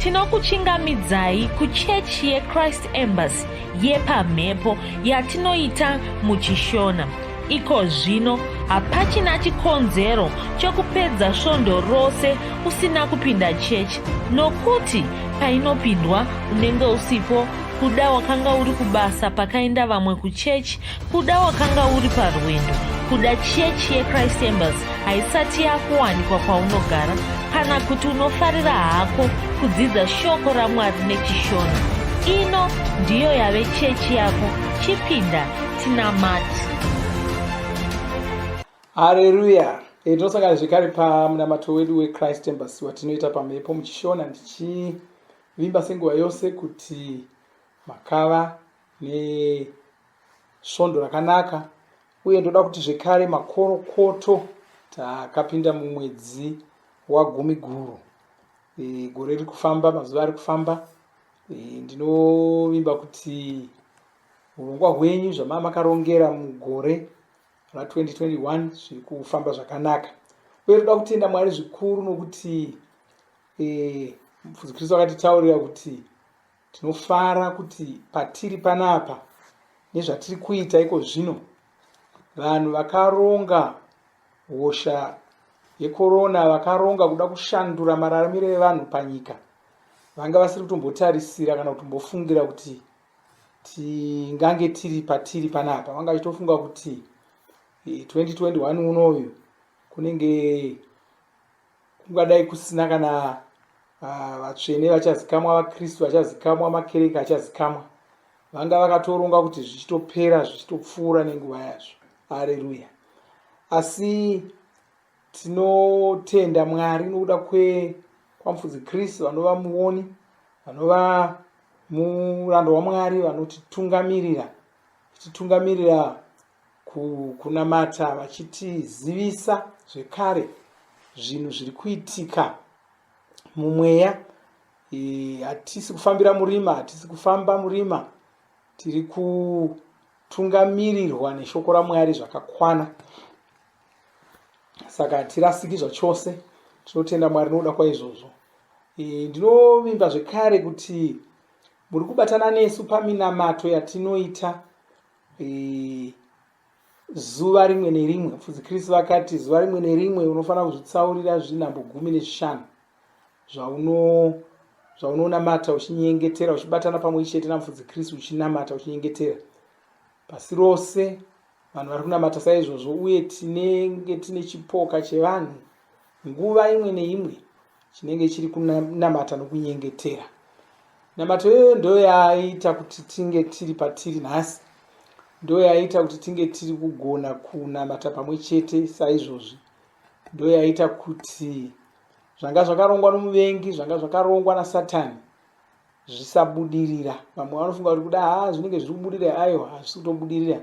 tinokuchingamidzai kuchechi yechrist embassy yepamhepo yatinoita muchishona iko zvino hapachina chikonzero chokupedza svondo rose usina kupinda chechi nokuti painopindwa unenge usipo kuda wakanga uri kubasa pakaenda vamwe kuchechi Kuda wakanga uri parwendo kuda chechi yechrist embers haisati yakuwanikwa kwaunogara kana kuti unofarira hako kudzidza shoko ramwari nechishona ino ndiyo yave chechi yako chipinda tinamati hareruya e, tinosangana zvekare pamunamato wedu wechrist embers watinoita pamhepo muchishona ndichivimba senguva yose kuti makava nesvondo rakanaka uye ndoda kuti zvekare makorokoto takapinda mumwedzi wagumi guru e, gore riri kufamba mazuva ari kufamba e, ndinovimba kuti urongwa hwenyu zvamaa makarongera mugore ra2021 zviri kufamba zvakanaka uye toda kutenda mwari zvikuru nokuti e, mufudzi kristu akatitaurira kuti Tinofara kuti patiri panapa nezvatiri kuita iko zvino, vanhu vakaronga hosha yekorona vakaronga kuda kushandura mararamiro evanhu panyika vanga vasiri kutombotarisira kana kutombofungira kuti tingange tiri patiri panapa vanga vachitofunga kuti 2021 eh, unoyu kunenge kungadai kusina kana ah, vatsvene vachazikamwa vakristu vachazikamwa makereke achazikamwa vanga vakatoronga kuti zvichitopera zvichitopfuura nenguva yazvo areruya asi tinotenda mwari nokuda kwamfudzi kristu vanova muoni vanova murando wamwari vanotitungamirira titungamirira kukunamata vachitizivisa zvekare zvinhu zviri kuitika mumweya hatisi kufambira murima hatisi kufamba murima tiri kutungamirirwa neshoko ramwari zvakakwana saka hatirasiki zvachose tinotenda mwari nokuda kwaizvozvo ndinovimba zvekare kuti muri kubatana nesu paminamato yatinoita zuva rimwe nerimwe mfudzi chris vakati zuva rimwe nerimwe unofanira kuzvitsaurira zvinhambo gumi nezvishanu zvaunonamata uchinyengetera uchibatana pamwe chete namfudzi chris uchinamata uchinyengetera pasi rose vanhu vari kunamata saizvozvo uye tinenge tine chipoka chevanhu nguva imwe neimwe chinenge chiri kunamata nokunyengetera namato iyoyo ndo yaaita kuti tinge tiri patiri nhasi ndo yaaita kuti tinge tiri kugona kunamata pamwe chete saizvozvi ndo yaaita kuti zvanga zvakarongwa nomuvengi zvanga zvakarongwa nasatani zvisabudirira vamwe vanofunga kuti kuda haa zvinenge zviri kubudirira ayo hazvisi kutobudirira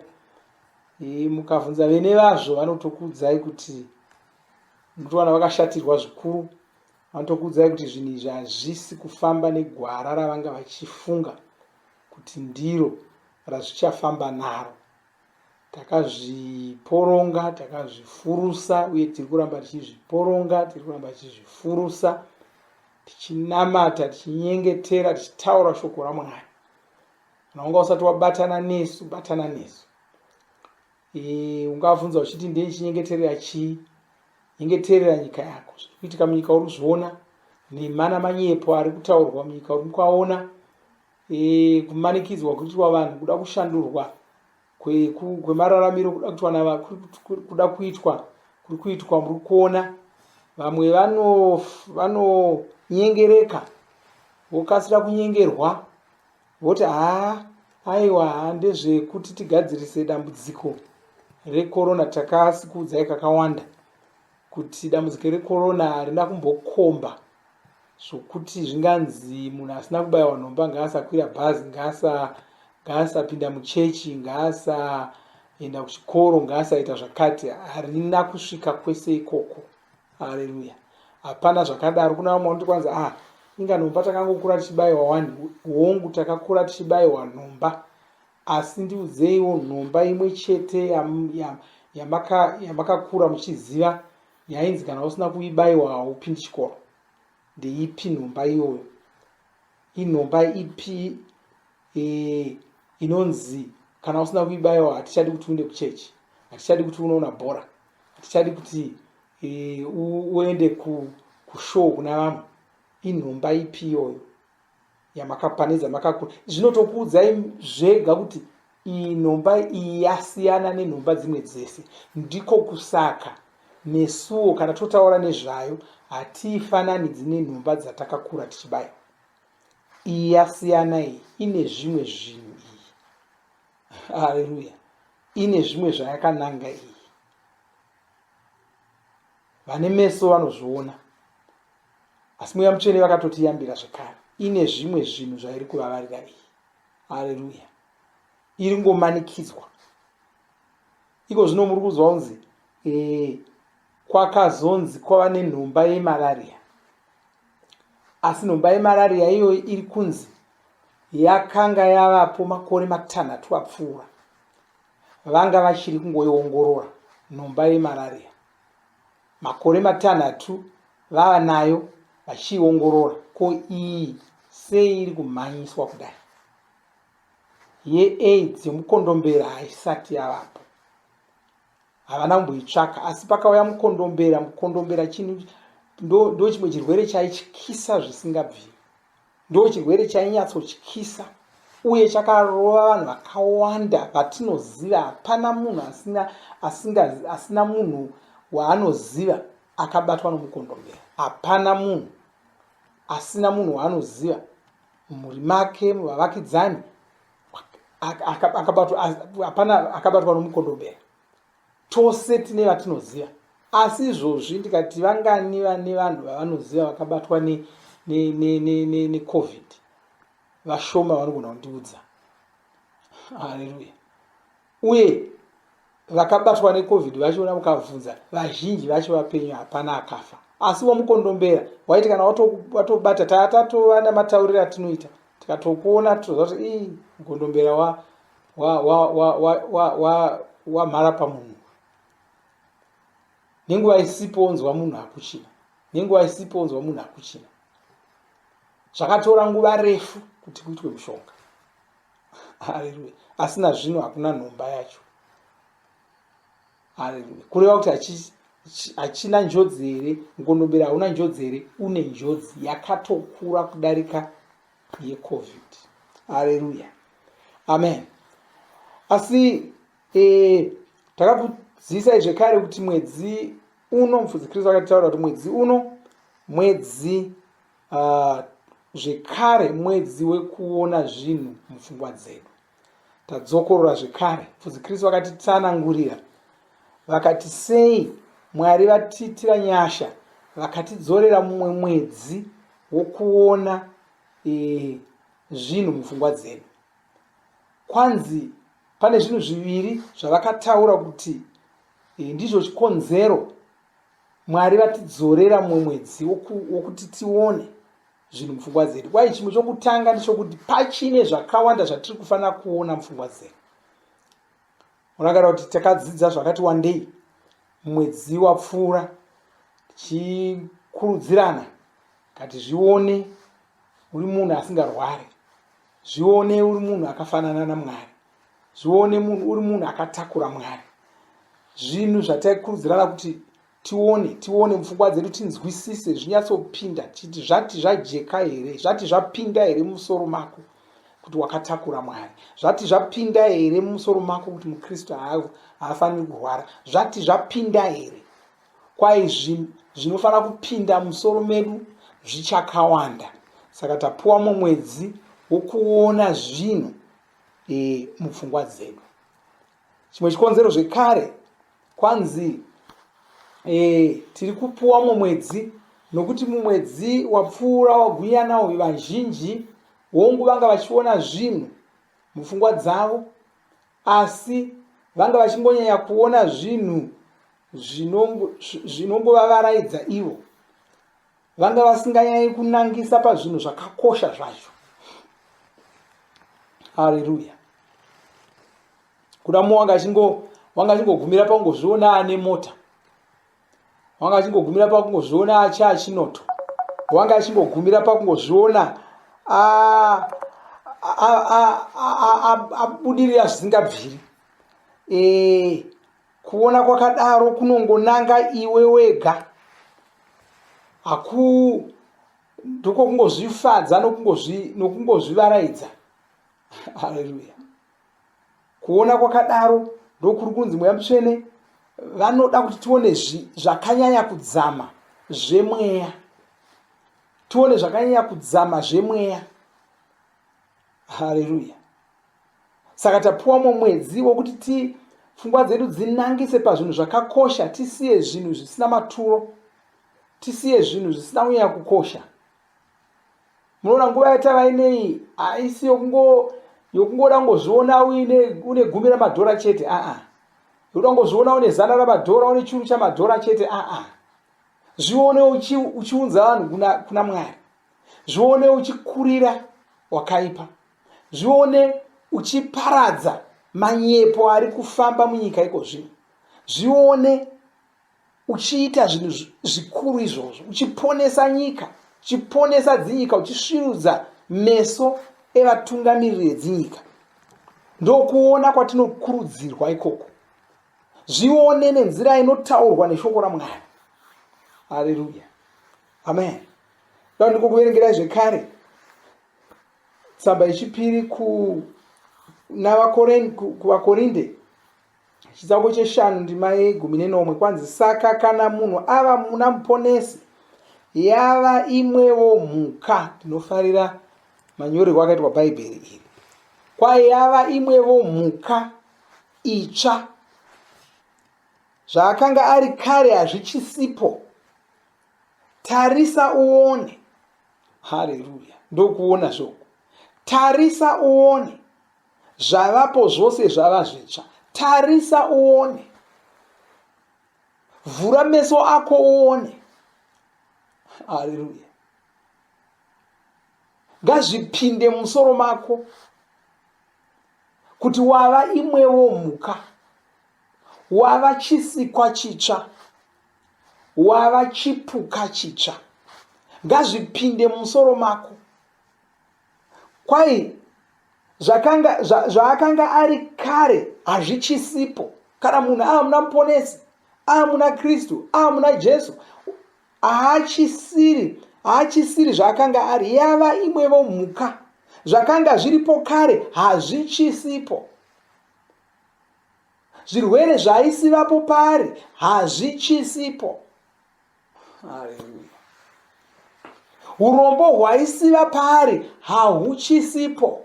mukavhunza vene vazvo vanotokuudzai kuti nekuti vana vakashatirwa zvikuru vanotokuudzai kuti zvinhu izvi hazvisi kufamba negwara ravanga vachifunga kuti ndiro razvichafamba naro takazviporonga takazvifurusa uye tiri kuramba tichizviporonga tiri kuramba tichizvifurusa tichinamata tichinyengetera tichitaura shoko ramwari kana wanga usati wabatana nesu batana nesu e, ungavunza uchiti ndei chinyengeterera chii nyengeterera nyika yako zviri kuitika munyika uri kuzviona nemana manyepo ari kutaurwa munyika uri kwaona e, kumanikidzwa kuitwa vanhu kuda kushandurwa kwemararamiro kuda kuitwa na kuda kuitwa kuri kuitwa muri kuona vamwe vanonyengereka vokasira kunyengerwa Voti haa aiwa haa ndezvekuti tigadzirise dambudziko rekorona takasi kuudzai kakawanda kuti dambudziko rekorona harina kumbokomba zvokuti zvinganzi munhu asina kubayiwa nhomba ngaasakwira bhazi ngaasapinda muchechi ngaasaenda kuchikoro ngaasaita zvakati harina kusvika kwese ikoko haleluya hapana zvakadaro kuna vamwe vanoti kwanzi ah inga nhomba takangokura tichibayiwa wani hongu takakura tichibayiwa nhomba asi ndiudzeiwo nhomba imwe chete yamakakura muchiziva yainzi kana usina kuibayiwa haupindi chikoro ndeipi nhomba iyoyo inhomba ipi e, inonzi kana usina kuibayawo hatichadi kuti uende kuchechi hatichadi kuti unoona bhora hatichadi kuti e, uende ku, kushow kuna vamwe inhomba ipi iyoyo yamakapane dzamakakura zvinotokuudzai zvega kuti iyi nhomba iyi yasiyana nenhomba dzimwe dzese ndiko kusaka nesuwo kana totaura nezvayo hatiifananidzi nenhomba dzatakakura tichibaya iyi yasiyana iyi ine zvimwe zvinhu iyi haleluya ine zvimwe zvayakananga iyi vane meso vanozviona asi mweya mutsvene vakatotiyambira zvekare ine zvimwe zvinhu zvairi kuvavarira iyi haleluya iri ngomanikidzwa iko zvino muri kuzwa kunzi ee eh, kwakazonzi kwava nenhomba yemalaria asi nhomba yemarariya iyoyi iri kunzi yakanga yavapo makore matanhatu apfuura vanga vachiri kungoiongorora nhomba yemarariya makore matanhatu vava nayo vachiiongorora ko iyi sei iri kumhanyiswa kudai yeaids yemukondombera haisati yavapo havana kumboitsvaka asi pakauya mukondombera mukondombera chinhu ndo chimwe chirwere chaityisa zvisingabviri ndo chirwere chainyatsotyisa uye chakarova vanhu vakawanda vatinoziva hapana munhu asina asinga asina munhu waanoziva akabatwa nomukondombera hapana munhu asina munhu waanoziva mumhuri make muvavakidzani akabatwa nomukondombera tose tine vatinoziva asi izvozvi ndikati vangani vane vanhu vavanoziva vakabatwa necovid vashoma vanogona kundiudza haleluya uye vakabatwa necovid vachiona mukavhunza vazhinji vacho vapenyu hapana akafa asi wamukondombera waiti kana watobata taa tatova namatauriro atinoita tikatokuona titoziva kuti ii mukondombera wamhara pamunhu nenguva isipo onzwa munhu akuchina nenguva isipo onzwa munhu akuchina zvakatora nguva refu kuti kuitwe mushonga haleluya asi nazvino hakuna nhomba yacho haleluya kureva kuti hachina njodzi here mukondombera hauna njodzi here une njodzi yakatokura kudarika yecovid haleluya amen asi e, takakuzivisai zvekare kuti mwedzi uno mufudzi kristu akatitaura kuti mwedzi uno mwedzi Uh, zvekare mwedzi wekuona zvinhu mupfungwa dzedu tadzokorora zvekare fudzi kristu vakatitsanangurira vakati sei mwari vatiitira nyasha vakatidzorera mumwe mwedzi wokuona e, zvinhu mupfungwa dzedu kwanzi pane zvinhu zviviri zvavakataura kuti e, ndizvo chikonzero Mwari vatidzorera mumwe mwedzi wokuti tione zvinhu mupfungwa dzedu kwaye chimwe chokutanga ndichokuti pachine zvakawanda zvatiri kufanira kuona mupfungwa dzedu unogara kuti takadzidza zvakati wandei mwedzi wapfuura tichikurudzirana kati zvione uri munhu asingarwari zvione uri munhu akafanana namwari zvione munhu uri munhu akatakura mwari zvinhu zvataikurudzirana kuti tione tione mupfungwa dzedu tinzwisise zvinyatsopinda titi zvati zvajeka here zvati zvapinda here mumusoro mako kuti wakatakura mwari zvati zvapinda here mumusoro mako kuti mukristu haafaniri kurwara zvati zvapinda here kwai zvinhu zvinofanira kupinda musoro medu zvichakawanda saka tapuwa mumwedzi wokuona zvinhu e, mupfungwa dzedu chimwe chikonzero zvekare kwanzi e, tiri kupuwa mumwedzi nokuti mumwedzi wapfuura wagwinyana uyu vazhinji hongu vanga vachiona zvinhu mupfungwa dzavo asi vanga vachingonyanya kuona zvinhu zvinongovavaraidza ivo vanga vasinganyanyi kunangisa pazvinhu zvakakosha zvacho haleluya kuda mu wanga achingo wanga achingogumira pakungozviona ane mota wanga achingogumira pakungozviona achi achinoto wanga achingogumira pakungozviona a- a- a- a- a- a- abudirira zvisingabviri Eh, kuona kwakadaro kunongonanga iwe wega haku ndiko kungozvifadza nokungozvivaraidza haleluya kuona kwakadaro ndokuri kunzi mweya mutsvene vanoda kuti tione zvakanyanya kudzama zvemweya tione zvakanyanya kudzama zvemweya Haleluya. Saka tapuwa mumwe mwedzi wokuti ti pfungwa dzedu dzinangise pazvinhu zvakakosha, tisiye zvinhu zvisina maturo, tisiye zvinhu zvisina kunyanya kukosha. Munoona nguva yatava ineyi haisi yokungo yokungoda kungozviona uine une gumi ramadhora chete aa yokuda kungozviona une zana ramadhora une churu chamadhora chete aa zvione uchi, uchiunza vanhu kuna, kuna mwari zvione uchikurira wakaipa zvione uchiparadza manyepo ari kufamba munyika iko zvino zvione uchiita zvinhu zvikuru izvozvo uchiponesa nyika uchiponesa dzinyika uchisvirudza meso evatungamiriri edzinyika ndokuona kwatinokurudzirwa ikoko zvione nenzira inotaurwa neshoko ramwari hareruya amen nda ndikukuverengerai zvekare tsamba yechipiri kunavakorinde ku, chitsauko cheshanu ndima yegumi nenomwe kwanzi saka kana munhu ava muna muponesi yava imwewo mhuka ndinofarira manyorerwo akaitwa bhaibheri iri kwayava imwevo mhuka itsva zvaakanga ari kare hazvichisipo tarisa uone hareruya ndokuona zvoku tarisa uone zvavapo zvose zvava zvitsva tarisa uone vhura meso ako uone hareruya ngazvipinde musoro mako kuti wava imwewo mhuka wava chisikwa chitsva Wava chipuka chitsva. Ngazvipinde mumusoro mako. Kwai zvakanga zva, zvaakanga ari kare hazvichisipo. Kana munhu aamuna muponesi, aamuna Kristu, aamuna Jesu, haachisiri haachisiri zvaakanga ari yava imwevo mhuka zvakanga zviripo kare hazvichisipo zvirwere zvaisivapo paari hazvichisipo urombo hwaisiva paari hahuchisipo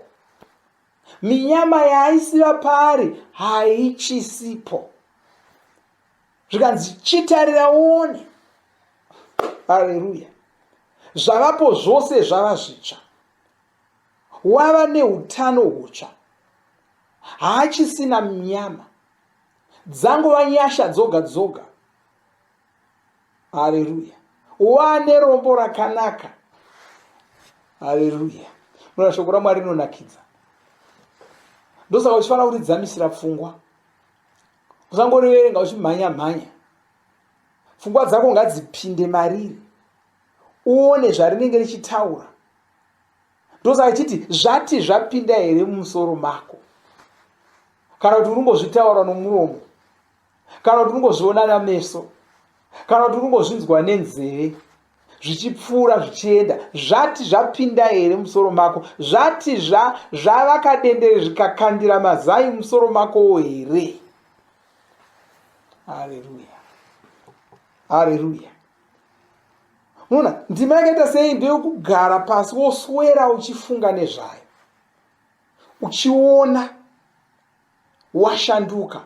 minyama yaaisiva paari haichisipo zvikanzi chitarira uone haleluya zvavapo zvose zvava zvitsva wava neutano hutsva haachisina nyama dzangova nyasha dzoga dzoga hareruya wane rombo rakanaka hareruya muna shoko ramwari rinonakidza ndosaka uchifanira kuridzamisira pfungwa usangoriverenga uchimhanya mhanya pfungwa dzako ngadzipinde mariri uone zvarinenge richitaura ndosaka chiti zvati zvapinda here mumusoro mako kana kuti unongozvitaura nomuromo kana kuti unongozviona nameso kana kuti unongozvinzwa nenzeve zvichipfuura zvichienda zvati zvapinda here musoro mako zvati zvavakadendere zvikakandira mazai musoro makowo here hareruya hareruya muona ndima yakaita sei ndeyokugara pasi woswera uchifunga nezvayo uchiona washanduka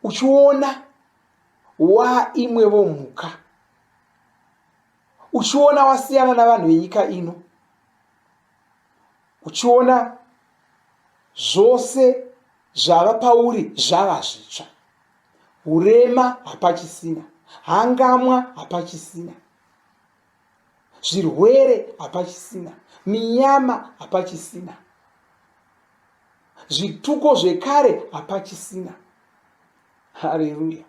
uchiona waimwevo mhuka uchiona wasiyana navanhu venyika ino uchiona zvose zvava pauri zvava zvitsva urema hapachisina hangamwa hapachisina zvirwere hapachisina minyama hapachisina zvituko zvekare hapachisina hareruya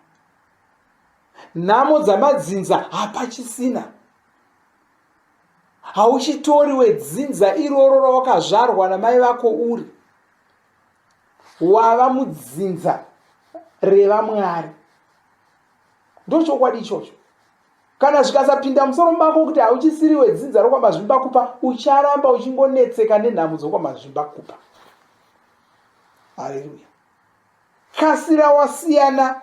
nhamo dzamadzinza hapachisina hauchitori wedzinza iroro rawakazvarwa namai vako uri wava mudzinza revamwari ndochokwadi ichocho kana zvikasapinda musoro mako kuti hauchisiri wedzinza rokwamazvimba kupa ucharamba uchingonetseka nenhamo dzokwamazvimba kupa haleluya kasira wasiyana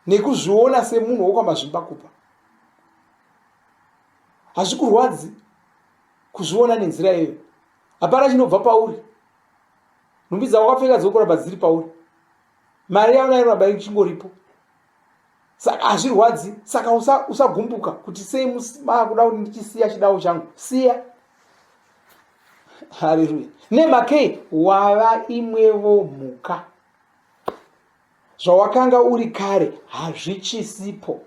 nekuzviona semunhu wokwamazvimba kupa hazvikurwadzi kuzviona nenzira iyoyo hapana chinobva pauri nhumbi dzawakapfeka dziri kuramba dziri pauri mari yavo nayo ramba ichingoripo saka hazvirwadzi saka usagumbuka usa kuti sei makuda kuti ndichisiya chidawo changu siya haleluya nemakei wava imwevo mhuka zvawakanga uri kare hazvichisipo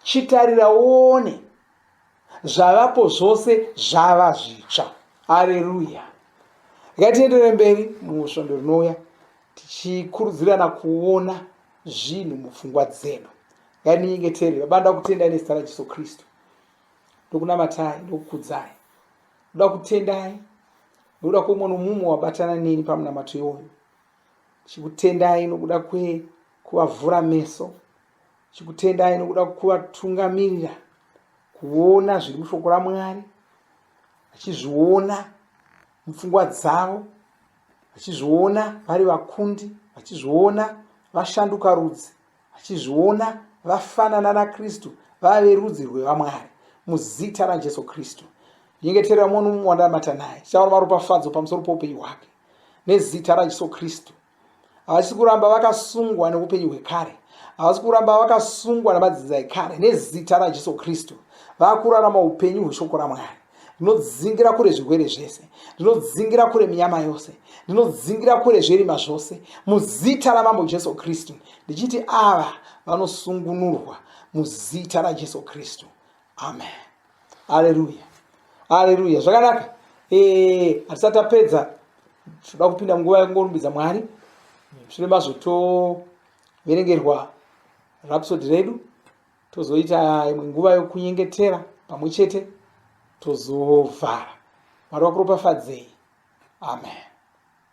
Chitarira uone, zvavapo zvose zvava zvitsva. Areruya! Ngatienderere mberi mumwe svondo rinouya tichikurudzirana kuona zvinhu mupfungwa dzedu. Ngatinyengetere. Baba, ndoda kutendai nezita raJesu Kristu. Ndokunamatai, ndokukudzai. Ndoda kutendai nokuda kweumwe nomumwe wabatana neni pamunamato iwoyo. Chikutendai nokuda kwekuvavhura meso chikutendai nokuda kuvatungamirira kuona zviri mushoko ramwari vachizviona mupfungwa dzavo vachizviona vari vakundi vachizviona vashanduka rudzi vachizviona vafanana nakristu vave rudzi rwevamwari muzita rajesu kristu nyengeterera mwono mumwe wandaamata naye tichaona maropafadzo pamusoro poupenyu hwake nezita rajesu kristu havasi kuramba vakasungwa neupenyu hwekare havasi kuramba vakasungwa namadzinza ekare nezita rajesu kristu vakurarama upenyu hweshoko ramwari ndinodzingira kure zvirwere zvese ndinodzingira kure minyama yose ndinodzingira kure zvirima zvose muzita ramambo jesu kristu ndichiti ava vanosungunurwa muzita rajesu kristu amen aleluya aleluya zvakanaka eh, hatisati tapedza tinoda kupinda munguva yekungorumbidza mwari mushure mazvo toverengerwa rapsodi redu tozoita imwe nguva yokunyengetera pamwe chete tozovhara mwari wakuropafadzei amen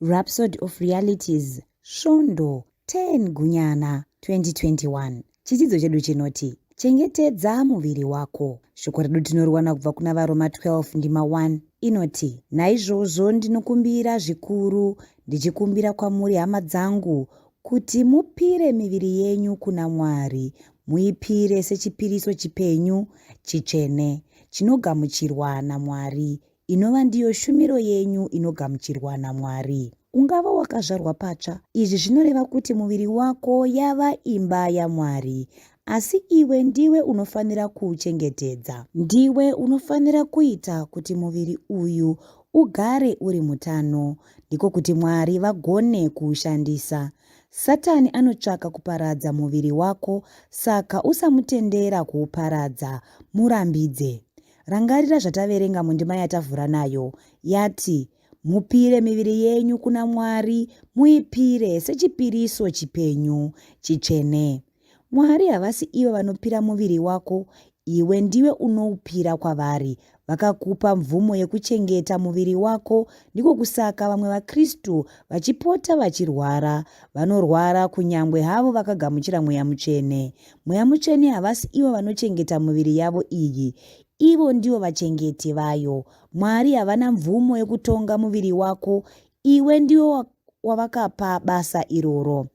Rhapsody of Realities, Svondo 10 Gunyana 2021. Chidzidzo chedu chinoti chengetedza muviri wako. Shoko redu tinoriwana kubva kuna vaRoma 12 ndima 1 inoti, naizvozvo ndinokumbira zvikuru, ndichikumbira kwamuri hama dzangu, kuti mupire miviri yenyu kuna Mwari, muipire sechipiriso chipenyu, chitsvene, chinogamuchirwa naMwari, inova ndiyo shumiro yenyu inogamuchirwa naMwari. Ungava wakazvarwa patsva. Izvi zvinoreva kuti muviri wako yava imba yaMwari. Asi iwe ndiwe unofanira kuuchengetedza. Ndiwe unofanira kuita kuti muviri uyu ugare uri mutano, ndiko kuti Mwari vagone kuushandisa. Satani anotsvaka kuparadza muviri wako, saka usamutendera kuuparadza. Murambidze. Rangarira zvataverenga mundima yatavhura nayo yati, Mupire miviri yenyu kuna Mwari, muipire sechipiriso chipenyu, chitsvene. Mwari havasi ivo vanopira muviri wako, iwe ndiwe unoupira kwavari vakakupa mvumo yekuchengeta muviri wako ndiko kusaka vamwe vakristu vachipota vachirwara vanorwara kunyange havo vakagamuchira mweya mutsvene Mweya Mutsvene havasi ivo vanochengeta muviri yavo iyi. Ivo ndivo vachengeti vayo. Mwari havana mvumo yekutonga muviri wako. Iwe ndiwo wavakapa basa iroro.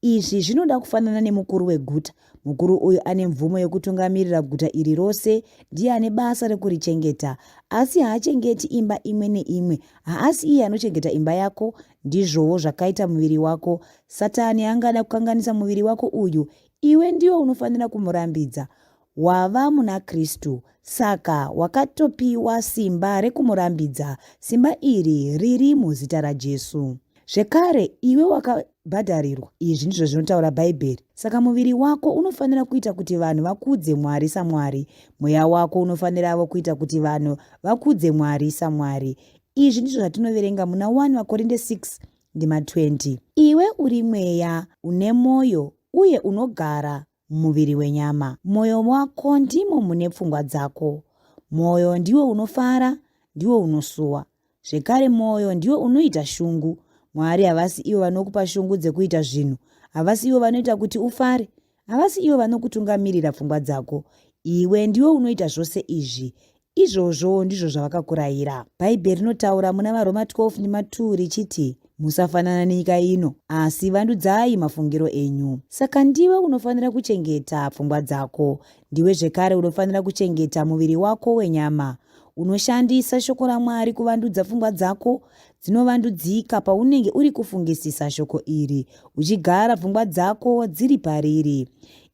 Izvi zvinoda kufanana nemukuru weguta. Mukuru uyu ane mvumo yekutungamirira guta iri rose, ndiye ane basa rekurichengeta. Asi haachengeti imba imwe neimwe. Haasi iye anochengeta imba yako, Ndizvowo zvakaita muviri wako. Satani angada kukanganisa muviri wako uyu, iwe ndiwe unofanira kumurambidza. Wava muna Kristu, saka wakatopiwa simba rekumurambidza. Simba iri riri muzita raJesu. Zvekare, iwe wakabhadharirwa. Izvi ndizvo zvinotaura Bhaibheri. Saka muviri wako unofanira kuita kuti vanhu vakudze Mwari saMwari. Mweya wako unofaniravo kuita kuti vanhu vakudze Mwari saMwari. Izvi ndizvo zvatinoverenga muna 1 Vakorinde 6 ndima 20. Iwe uri mweya une mwoyo uye unogara mumuviri wenyama. Mwoyo wako ndimo mune pfungwa dzako. Mwoyo ndiwo unofara, ndiwo unosuwa. Zvekare mwoyo ndiwo unoita shungu. Mwari havasi ivo vanokupa shungu dzekuita zvinhu. Havasi ivo vanoita kuti ufare. Havasi ivo vanokutungamirira pfungwa dzako. Iwe ndiwe unoita zvose izvi. Izvozvo ndizvo zvavakakurayira. Bhaibheri rinotaura muna vaRoma 12 nema 2 richiti, Musafanana nenyika ino, asi vandudzai mafungiro enyu. Saka ndiwe unofanira kuchengeta pfungwa dzako. Ndiwe zvekare unofanira kuchengeta muviri wako wenyama. Unoshandisa shoko raMwari kuvandudza pfungwa dzako? dzinovandudzika paunenge uri kufungisisa shoko iri uchigara pfungwa dzako dziri pariri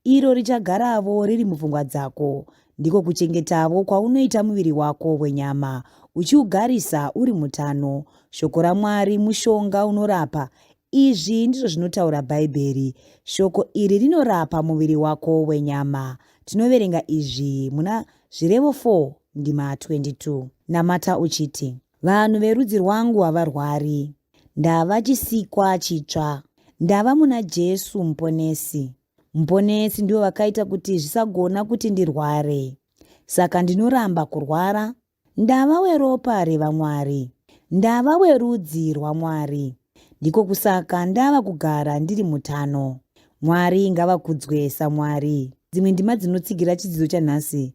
iro richagaravo riri mupfungwa dzako ndiko kuchengetavo kwaunoita muviri wako wenyama uchiugarisa uri mutano shoko ramwari mushonga unorapa izvi ndizvo zvinotaura bhaibheri shoko iri rinorapa muviri wako wenyama tinoverenga izvi muna zvirevo 4 ndima 22 namata uchiti Vanhu verudzi rwangu havarwari. Ndava chisikwa chitsva. Ndava muna Jesu Muponesi. Muponesi ndivo vakaita kuti zvisagona kuti ndirware. Saka ndinoramba kurwara. Ndava weropa revaMwari. Ndava werudzi rwaMwari. Ndiko kusaka ndava kugara ndiri mutano. Mwari ngavakudzwe saMwari. Dzimwe ndima dzinotsigira chidzidzo chanhasi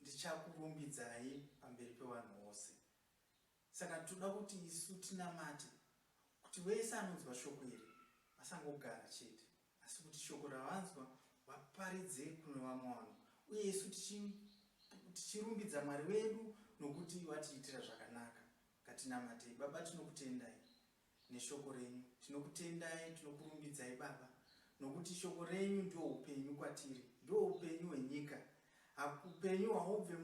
ndichakurumbidzai pamberi pevanhu vose. Saka toda kuti isu tinamate kuti vese anonzwa shoko iri vasangogara chete, asi kuti shoko ravanzwa vaparidze kune vamwe vanhu, uye isu tichirumbidza Mwari wedu nokuti vatiitira zvakanaka. Ngatinamatei. Baba, tinokutendai neshoko renyu. Tinokutendai, tinokurumbidzai Baba nokuti shoko renyu ndiwo upenyu kwatiri, ndiwo upenyu hwenyika. Upenyu haubve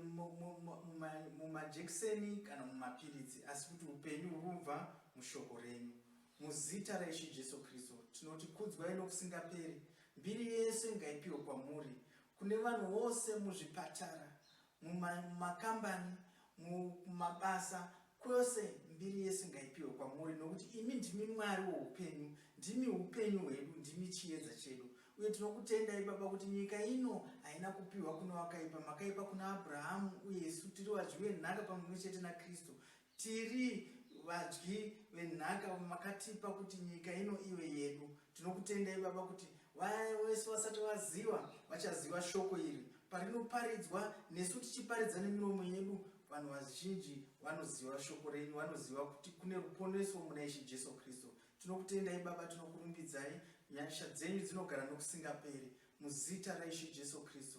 mumajekiseni kana mumapiritsi, asi kuti upenyu huri kubva mushoko renyu. Muzita raIshe Jesu Kristu tinoti kudzwai nokusingaperi. Mbiri yese ngaipiwe kwamuri, kune vanhu vose muzvipatara, mumakambani, mumabasa, kwose mbiri yese ngaipiwe kwamuri nokuti imi ndimi Mwari woupenyu, ndimi upenyu hwedu, ndimi chiedza chedu. Uye tinokutendai Baba kuti nyika ino haina kupiwa kune wakaipa, makaipa kuna Abrahamu uye isu tiri vadyi venhaka pamwe chete naKristu. Tiri vadyi venhaka makatipa kuti nyika ino ive yedu. Tinokutendai baba kuti vaya vese vasati vaziva vachaziva shoko iri parinoparidzwa nesu tichiparidza nemiromo yedu vanhu vazhinji vanoziva shoko renyu vanoziva kuti kune ruponeso muna ishe jesu kristu tinokutendai baba tinokurumbidzai nyasha dzenyu dzinogara nokusingaperi muzita raishe jesu kristu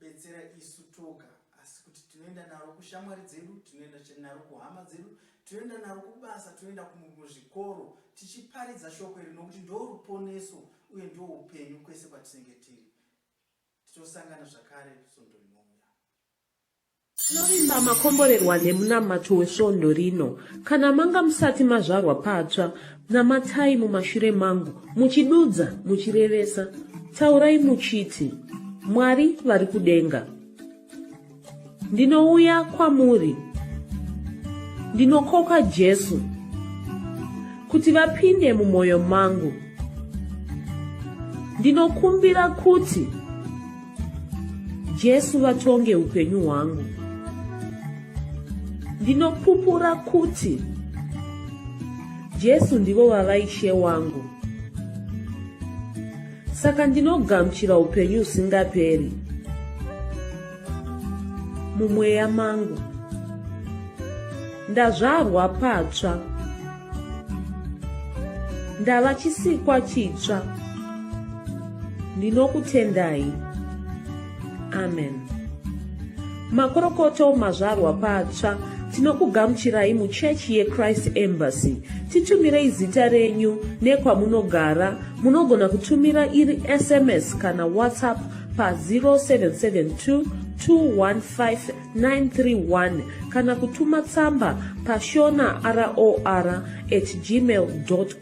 betsera isu toga asi kuti tinoenda naro kushamwari dzedu tinoenda naro kuhama dzedu tinoenda naro kubasa tinoenda kumuzvikoro tichiparidza shoko iri nokuti ndo ruponeso uye ndo upenyu kwese kwatinenge tiri titosangana zvakare svondo rinouya Tinovimba makomborerwa nemunamato wesvondo rino. Kana manga musati mazvarwa patsva, namatai mumashure mangu, muchidudza, muchirevesa. Taurai muchiti, Mwari vari kudenga. Ndinouya kwamuri. Ndinokoka Jesu kuti vapinde mumwoyo mangu. Ndinokumbira kuti Jesu vatonge upenyu hwangu. Ndinopupura kuti Jesu ndivo vava ishe wangu. Saka ndinogamuchira upenyu usingaperi mumweya mangu. Ndazvarwa patsva. ndava chisikwa chitsva ndinokutendai amen makorokoto mazvarwa patsva tinokugamuchirai muchechi yechrist embassy titumirei zita renyu nekwamunogara munogona kutumira iri sms kana whatsapp pa 0772 215 931 kana kutuma tsamba pashona ror at gmail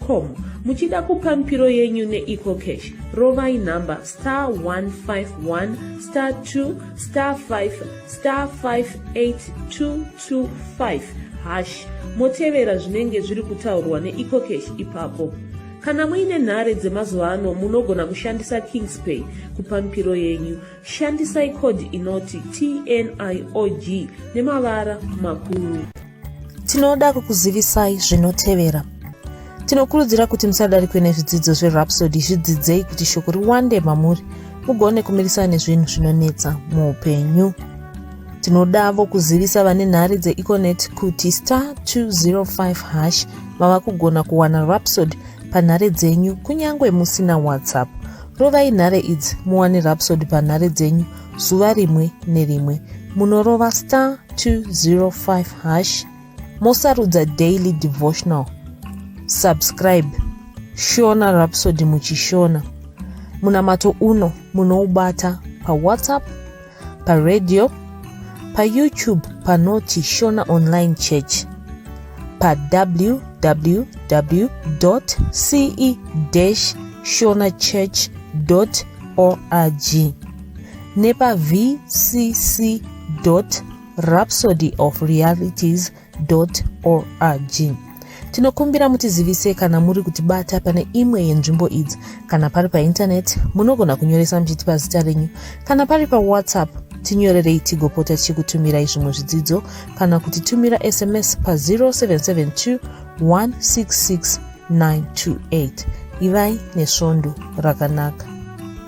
com muchida kupa mipiro yenyu neecocash rovai nhamba star 151 star 2 star 5 star 58225 hash motevera zvinenge zviri kutaurwa neecocash ipapo kana muine nhare dzemazuva ano munogona kushandisa kingspay kupa mipiro yenyu Shandisai code inoti TNIOG nemavara makuru. Tinoda kukuzivisai zvinotevera. Tinokurudzira kuti musadarikwe nezvidzidzo zverhapsody zvidzidzei kuti shoko riwande mamuri mugone kumirisana nezvinhu zvinonetsa muupenyu tinodavo kuzivisa vane nhare dzeeconet kuti star 205 hash mava kugona kuwana rapsod panhare dzenyu kunyange musina whatsapp rovai nhare idzi muwane rapsod panhare dzenyu zuva rimwe nerimwe munorova star 205 hash mosarudza daily devotional subscribe shona rapsod muchishona munamato uno munoubata pawhatsapp paradio payoutube panoti shona online church pawww ce shona church org nepavcc rhapsody of realities org tinokumbira mutizivise kana muri kutibata pane imwe yenzvimbo idzi kana pari paintaneti munogona kunyoresa muchitipa zita renyu kana pari pawhatsapp tinyorerei tigopota tichikutumirai zvimwe zvidzidzo kana kuti tumira sms pa 0772 166 928 ivai nesvondo rakanaka